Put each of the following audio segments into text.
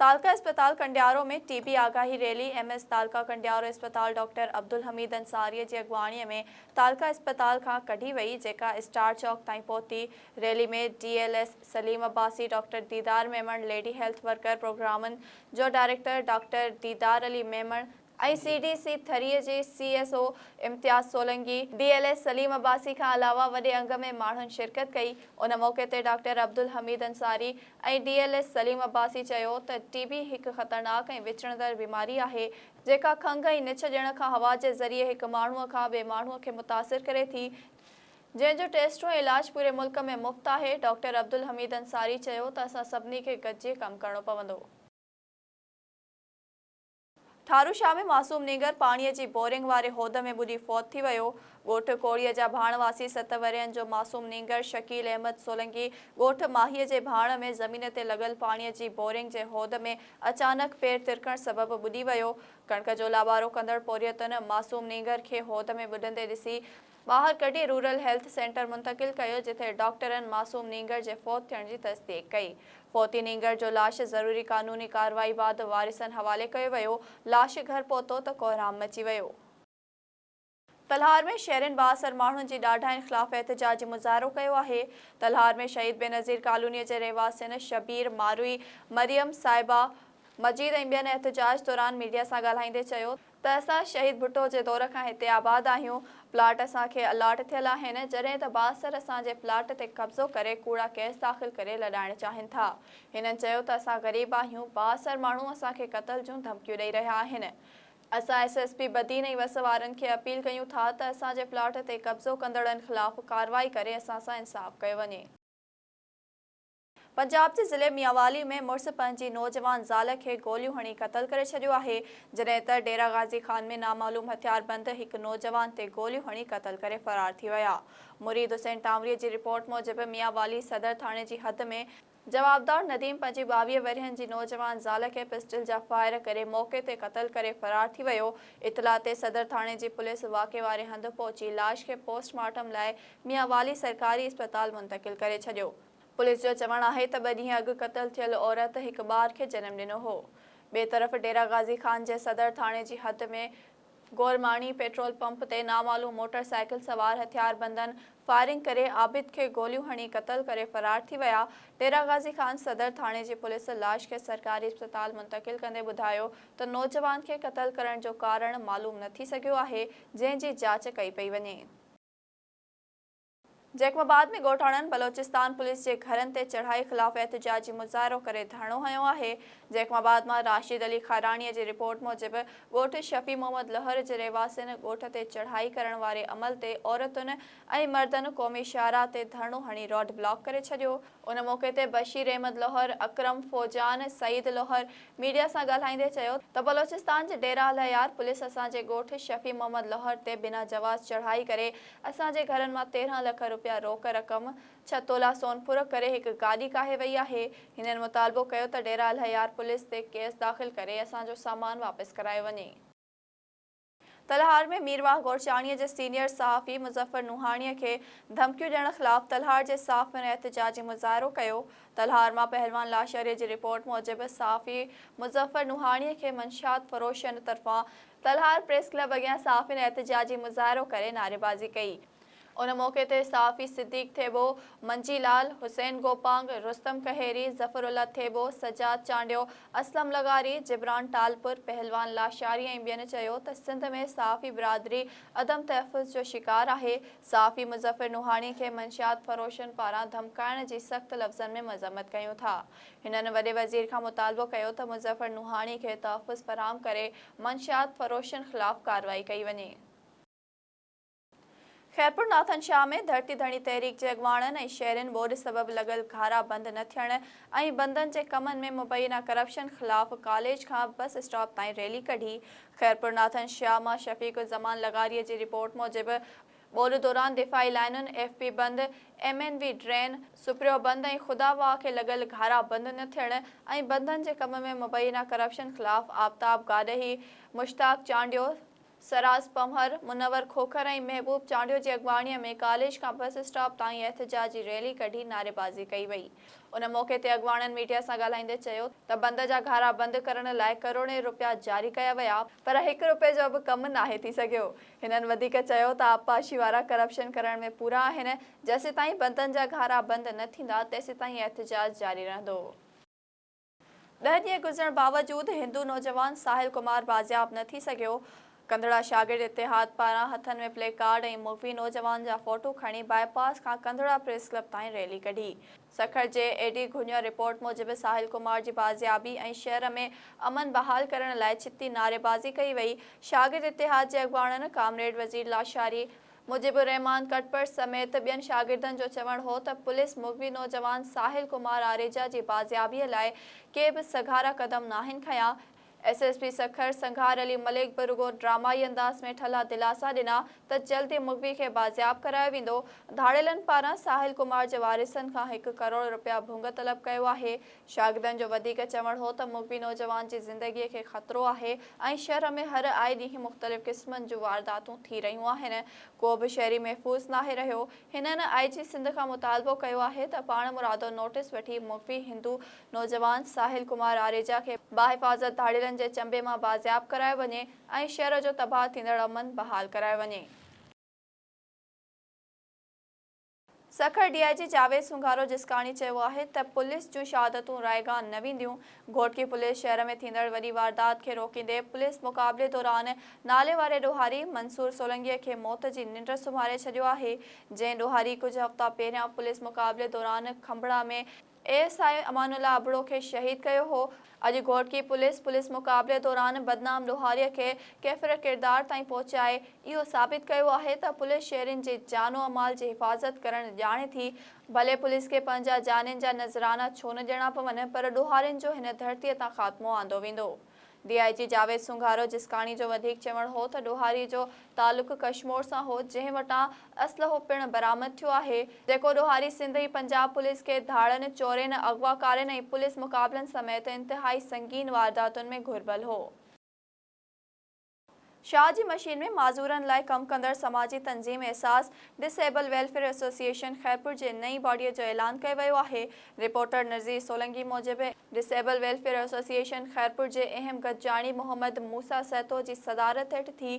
تعلقه اسپتال Kandiaro ۾ T B آگاهي rally M S تعلقه ڪنڊيارو اسپتال ڊاڪٽر عبدالحميد انصاري جي اڳواڻي ۾ تعلقه اسپتال کان ڪڍي وئي جيڪا اسٽار چوڪ تائين پهتي rally ۾ D L S Saleem Abbasi doctor Didar Memon lady health worker پروگرامن جو director doctor Didar Ali Memon ۽ C D C ٿريء جي C S O Imtiaz Solangi, D L S Saleem Abbasi کان علاوه وڏي انگ ۾ ماڻهن شرڪت ڪئي. ان موقعي تي doctor Abdul Hamid Ansari ۽ D L S Saleem Abbasi چيو ته ٽي بي هڪ خطرناڪ ۽ وچڙندڙ بيماري آهي جيڪا کنگهه ۽ نڇ ڏيڻ کان هوا جي ذريعي هڪ ماڻهو کان ٻئي ماڻهو کي متاثر ڪري ٿي جنهن جو ٽيسٽ ۽ علاج پوري ملڪ ۾ مفت آهي ڊاڪٽر عبدالحميد انصاري چيو ته اسان سڀني کي گڏجي ڪم ڪرڻو پوندو. ٺارو شاهه ۾ معصوم نينگر پاڻيء جي بورنگ واري هوڌ ۾ ٻڏي فوت ٿي ويو، ڳوٺ ڪوڙيء جا ڀاڻ واسي ست ورهين جو معصوم نينگر شڪيل احمد سولنگي ڳوٺ ماهيء جي ڀاڻ ۾ زمين تي لڳل پاڻيء جي بورنگ جي هوڌ ۾ اچانڪ پير ترڪڻ سبب ٻڏي ويو، ڪڻڪ جو لابارو ڪندڙ پورهيتن معصوم نينگر کي هوڌ ۾ ٻڏندي ڏسي ٻاهر ڪڍي رورل هيلٿ سينٽر منتقل ڪيو جتي ڊاڪٽرن معصوم نينگر جي فوت ٿيڻ جي تصديق ڪئي فوتي نينگر جو لاش ضروري قانوني ڪارروائي بعد وارثن حوالي ڪيو ويو لاش گهر پهتو ته ڪوهرام مچي ويو. تلهار ۾ شهرين بااثر ماڻهن جي ڏاڍاين خلاف احتجاجي مظاهرو ڪيو آهي، تلهار ۾ شهيد بينظير ڪالونيء جي رهواسين شبير، ماروئي، مريم، صائبه، مجيد ۽ ٻين احتجاج دوران ميڊيا سان ڳالهائيندي چيو ته اسان شهيد ڀٽو جي دور کان هتي آباد آهيون، پلاٽ اسان کي الاٽ ٿيل آهن، جڏهن ته بااثر اسان جي پلاٽ تي قبضو ڪري ڪوڙا ڪيس داخل ڪري لڏائڻ چاهين ٿا. هنن چيو ته اسان غريب آهيون، بااثر ماڻهو اسان کي قتل جون ڌمڪيون ڏئي رهيا آهن، اسان ايس ايس پي بدين ۽ وس وارن کي اپيل ڪيون ٿا ته اسان جي پلاٽ تي قبضو ڪندڙن خلاف ڪارروائي ڪري اسان سان انصاف ڪيو وڃي. پنجاب جي ضلعي ميانوالي ۾ مڙس پنهنجي نوجوان زال کي گوليون هڻي قتل ڪري ڇڏيو آهي، جڏهن ته ڊيرا غازي خان ۾ نامعلوم هٿياربند هڪ نوجوان تي گوليون هڻي قتل ڪري فرار ٿي ويا. مريد حسين ٽانوري جي رپورٽ موجب ميانوالي صدر ٿاڻي جي حد ۾ جوابدار نديم پنهنجي ٻاويهه ورهين جي نوجوان زال کي پسٽل جا فائر ڪري موقعي تي قتل ڪري فرار ٿي ويو، اطلاع تي صدر ٿاڻي جي پوليس واقعي واري هنڌ پهچي لاش کي پوسٽ مارٽم لاء ميانوالي سرڪاري اسپتال منتقل ڪري ڇڏيو. پوليس جو چوڻ آهي ته ٻه ڏينهن اڳ قتل ٿيل عورت هڪ ٻار کي جنم ڏنو هو. ٻئي طرف ڊيرا غازي خان جي صدر ٿاڻي جي حد ۾ گورماڻي پيٽرول پمپ تي نامعلوم موٽر سائيڪل سوار هٿياربندن فائرنگ ڪري عابد کي گوليون هڻي قتل ڪري فرار ٿي ويا. ڊيرا غازي خان صدر ٿاڻي جي پوليس لاش کي سرڪاري اسپتال منتقل ڪندي ٻڌايو ته نوجوان کي قتل ڪرڻ جو ڪارڻ معلوم نه ٿي سگهيو آهي جنهن جي جاچ ڪئي پئي وڃي. جيڪب آباد ۾ ڳوٺاڻن بلوچستان پوليس جي گهرن تي چڙهائي خلاف احتجاجي مظاهرو ڪري ڌرڻو هنيو آهي. جيڪب آباد مان راشد علي کاراڻيء جي رپورٽ موجب ڳوٺ شفيع محمد لهر جي رهواسين ڳوٺ تي چڙهائي ڪرڻ واري عمل تي عورتن ۽ مردن قومي شاهراهه تي ڌرڻو هڻي روڊ بلاڪ ڪري ڇڏيو. ان موقعي تي بشير احمد لوهر، اڪرم فوجان، سعيد لوهر ميڊيا سان ڳالهائيندي چيو ته بلوچستان جي ڊيره الهيار پوليس اسان جي ڳوٺ شفيع محمد لوهر تي بنا جواز چڙهائي ڪري اسان جي گهرن مان تيرهن لک روپيا روڪ رقم، ڇهه تولا سون ڦرهه ڪري هڪ گاڏي ڪاهي وئي آهي. هنن مطالبو ڪيو ته ڊيره الهيار پوليس تي ڪيس داخل ڪري اسان جو سامان واپس ڪرايو وڃي. تلهار ۾ مير واهه گورچاڻيء جي سينيئر صحافي مظفر نوحاڻيء کي ڌمڪيون ڏيڻ خلاف تلهار جي صحافين احتجاجي مظاهرو ڪيو. تلهار مان پهلوان لاشاريء جي رپورٽ موجب صحافي مظفر نوحاڻيء کي منشيات فروشن طرفان تلهار پريس ڪلب اڳيان صحافين احتجاجي مظاهرو ڪري نعريبازي ڪئي. ان موقعي تي صحافي صديق ٿيٻو، منجي لال، حسين گوپانگ، رستم کهيري، ظفر الله ٿيٻو، سجاد چانڊيو، اسلم لغاري، جبران ٽالپر، پهلوان لاشاري ۽ ٻين چيو ته سنڌ ۾ صحافي برادري عدم تحفظ جو شڪار آهي، صحافي مظفر نوحاڻي کي منشيات فروشن پاران ڌمڪائڻ جي سخت لفظن ۾ مذمت ڪيون ٿا. هنن وڏي وزير کان مطالبو ڪيو ته مظفر نوحاڻي کي تحفظ فراهم ڪري. منشيات فروشن خلاف ڪارروائي ڪئي وڃي. خيرپور ناٿن شاهه ۾ ڌرتي ڌڻي تحريڪ جي اڳواڻن ۽ شهرين ٻوڏ سبب لڳل گهارا بند نه ٿيڻ ۽ بندن جي ڪمن ۾ مبينا ڪرپشن خلاف ڪاليج کان بس اسٽاپ تائين ريلي ڪڍي خيرپور ناٿن شاهه مان شفيق الزمان لغاري جي رپورٽ موجب ٻوڏ دوران دفاعي لائينن، ايف بي بند، ايم اين وي ڊرين، سپريو بند ۽ خدا واهه کي لڳل گهارا بند نه ٿيڻ ۽ بندن جي ڪم ۾ مبينا ڪرپشن خلاف آفتاب گاڏهي، مشتاق چانڊيو، سراز پنهور، منور کوکر ۽ محبوب چانڊيو جي اڳواڻيء ۾ ڪاليج کان بس اسٽاپ تائين احتجاجي ريلي ڪڍي نعريبازي ڪئي وئي. ان موقعي تي اڳواڻن ميڊيا سان ڳالهائيندي چيو ته بند جا گهارا بند ڪرڻ لاء ڪروڙين رپيا جاري ڪيا ويا، پر هڪ رپئي جو به ڪم ناهي ٿي سگهيو، هنن وڌيڪ چيو ته آبپاشي وارا ڪرپشن ڪرڻ ۾ پورا آهن، جيسيتائين بندن جا گهارا بند نه ٿيندا تيسيتائين احتجاج جاري رهندو. ڏهه ڏينهن گذرڻ باوجود هندو نوجوان ساحل ڪمار بازياب نه ٿي سگهيو، ڪنڌڙا شاگرد اتحاد پاران هٿن ۾ پلي ڪارڊ ۽ مغوي نوجوان جا فوٽو کڻي بائي پاس کان ڪنڌڙا پريس ڪلب تائين ريلي ڪڍي. سکر جي اي ڊي گهونيو رپورٽ موجب ساحل ڪمار جي بازيابي ۽ شهر ۾ امن بحال ڪرڻ لاء ڇتي نعريبازي ڪئي وئي، شاگرد اتحاد جي اڳواڻن ڪامريڊ وزير لاشاري، مجيب الرحمان ڪٽپر سميت ٻين شاگردن جو چوڻ هو ته پوليس مغوي نوجوان ساحل ڪمار آريجا جي بازيابي لاء ڪي به سگهارا قدم ناهن کنيا، S S P Sukkur Singhar Ali Malik به رڳو ڊرامائي انداز ۾ ٺلها دلاسا ڏنا ته جلد ئي مغوي کي بازياب ڪرايو ويندو، ڌاڙيلن پاران ساحل ڪمار جي وارثن کان هڪ ڪروڙ رپيا ڀونگ طلب ڪيو آهي، شاگردن جو وڌيڪ چوڻ هو ته مغوي نوجوان جي زندگي کي خطرو آهي ۽ شهر ۾ هر آئي ڏينهن مختلف قسمن جون وارداتون ٿي رهيون آهن، ڪو به شهري محفوظ ناهي رهيو، هنن آئي جي سنڌ کان مطالبو ڪيو آهي ته پاڻمرادو نوٽيس وٺي مغوي هندو نوجوان ساحل ڪمار آريجا کي باحفاظت ڌاڙيلن جي چنبي مان بازياب ڪرايو وڃي ۽ شهر جو تباهه ٿيندڙ امن بحال ڪرايو وڃي. سکر ڊي آء جي جاويد سونگارو جسڪاڻي چيو آهي ته پوليس جون شهادتون رائيگان نه وينديون، گهوٽڪي پوليس شهر ۾ ٿيندڙ وڏي واردات کي روڪيندي پوليس مقابلي دوران ناليواري ڏوهاري منصور سولنگي کي موت جي ننڊ سمهاري ڇڏيو آهي، جنهن ڏوهاري ڪجهه هفتا پهريان پوليس مقابلي دوران کنڀڙا ۾ ايس آء امان الله ابڙو کي شهيد ڪيو هو. اڄ گهوٽڪي پوليس پوليس مقابلي دوران بدنام لوهاري کي ڪيفر ڪردار تائين پهچائي اهو ثابت ڪيو آهي ته پوليس شهرين جي جان و مال جي حفاظت ڪرڻ ڄاڻي ٿي ڀلي پوليس کي پنهنجا جانين جا نذرانا ڇو نه ڏيڻا پون پر ڏوهارين جو هن ڌرتي تان خاتمو آندو ويندو. ڊي آء جي جاويد سونگارو جسڪاڻي جو وڌيڪ چوڻ هو ته ڏوهاري جو تعلق ڪشمور سان هو جنهن وٽان اسلحو پڻ برآمد ٿيو آهي جيڪو ڏوهاري سنڌ ۽ پنجاب پوليس کي ڌاڙن، چورين، اغواڪارين ۽ پوليس مقابلن سميت انتهائي سنگين وارداتن ۾ گهربل هو. شاهه جي مشين ۾ معذورن لاء ڪم ڪندڙ سماجي تنظيم Ehsaas disabled welfare association Khairpur جي نئين باڊي جو اعلان ڪيو ويو آهي. رپورٽر نذير سولنگي موجب disabled welfare association Khairpur جي اهم گڏجاڻي محمد موسيٰ سهتو جي صدارت هيٺ ٿي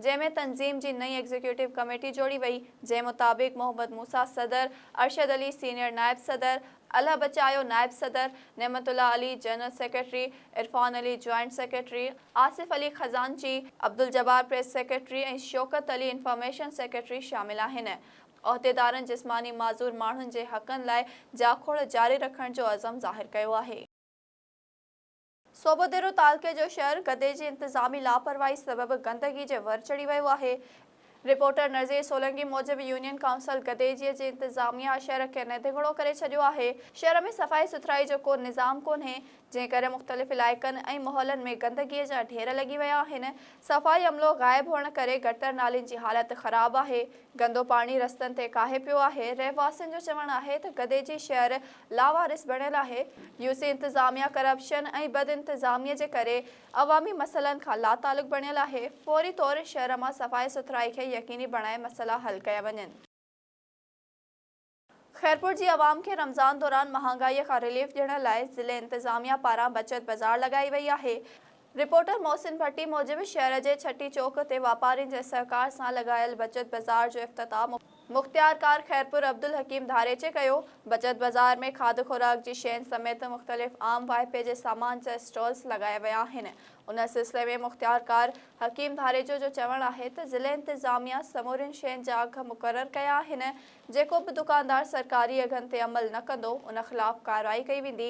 جنهن ۾ تنظيم جي نئين ايگزيڪيوٽو ڪميٽي جوڙي وئي جنهن مطابق محمد موسيٰ صدر، ارشد علي سينيئر نائب صدر، الله بچايو نائب صدر، Naimatullah Ali general secretary, Irfan Ali joint secretary, Asif Ali خزانچي، Abdul Jabbar press secretary ۽ Shaukat Ali information secretary شامل آهن. عهديدارن جسماني معذور ماڻهن جي حقن لاء جاکوڙ جاري رکڻ جو عزم ظاهر ڪيو آهي. صوبو ديرو تعلقي جو شھر گدي جي انتظامي لاپرواھي سبب گندگي جي ور چڙھي ويو آھي. رپورٽر نذير سولنگي موجب يونين ڪائونسل گدي جي جي انتظاميا شھر کي ندگھڙو ڪري ڇڏيو آھي، شھر ۾ صفائي سٿرائي جو ڪو نظام ڪونھي، جنھن ڪري مختلف علائقن ۽ محلن ۾ گندگي جا ڍير لڳي ويا آھن، صفائي عملو غائب ھئڻ ڪري گٽر نالين جي حالت خراب آھي، گندو پاڻي رستن تي ڪاھي پيو آھي، رھواسين جو چوڻ آھي ته گدي جي شھر لاوارث بڻيل آهي، يو سي انتظاميا ڪرپشن ۽ بد انتظامي جي ڪري عوامي مسئلن کان لاتعلق بڻيل آهي، فوري طور شهر مان صفائي سٿرائي کي يقيني بڻائي مسئلا حل ڪيا وڃن. خيرپور جي عوام کي رمضان دوران مهانگائي کان رليف ڏيڻ لاء ضلعي انتظاميا پاران بچت بازار لڳائي وئي آهي، رپورٽر محسن ڀٽي موجب شهر جي ڇٽي چوڪ تي واپارين جي سهڪار سان لڳايل بچت بازار جو افتتاح مختيارڪار خيرپور عبدالحڪيم ڌاريچي ڪيو، بچت بازار ۾ کاڌ خوراڪ جي شين سميت مختلف عام واهپي جي سامان جا اسٽالز لڳايا ويا آهن، ان سلسلي ۾ مختيارڪار حڪيم ڌاريچو جو چوڻ آهي ته ضلعي انتظاميا سمورين شين جا اگهه مقرر ڪيا آهن، جيڪو به دڪاندار سرڪاري اگهن تي عمل نه ڪندو ان خلاف ڪارروائي ڪئي ويندي،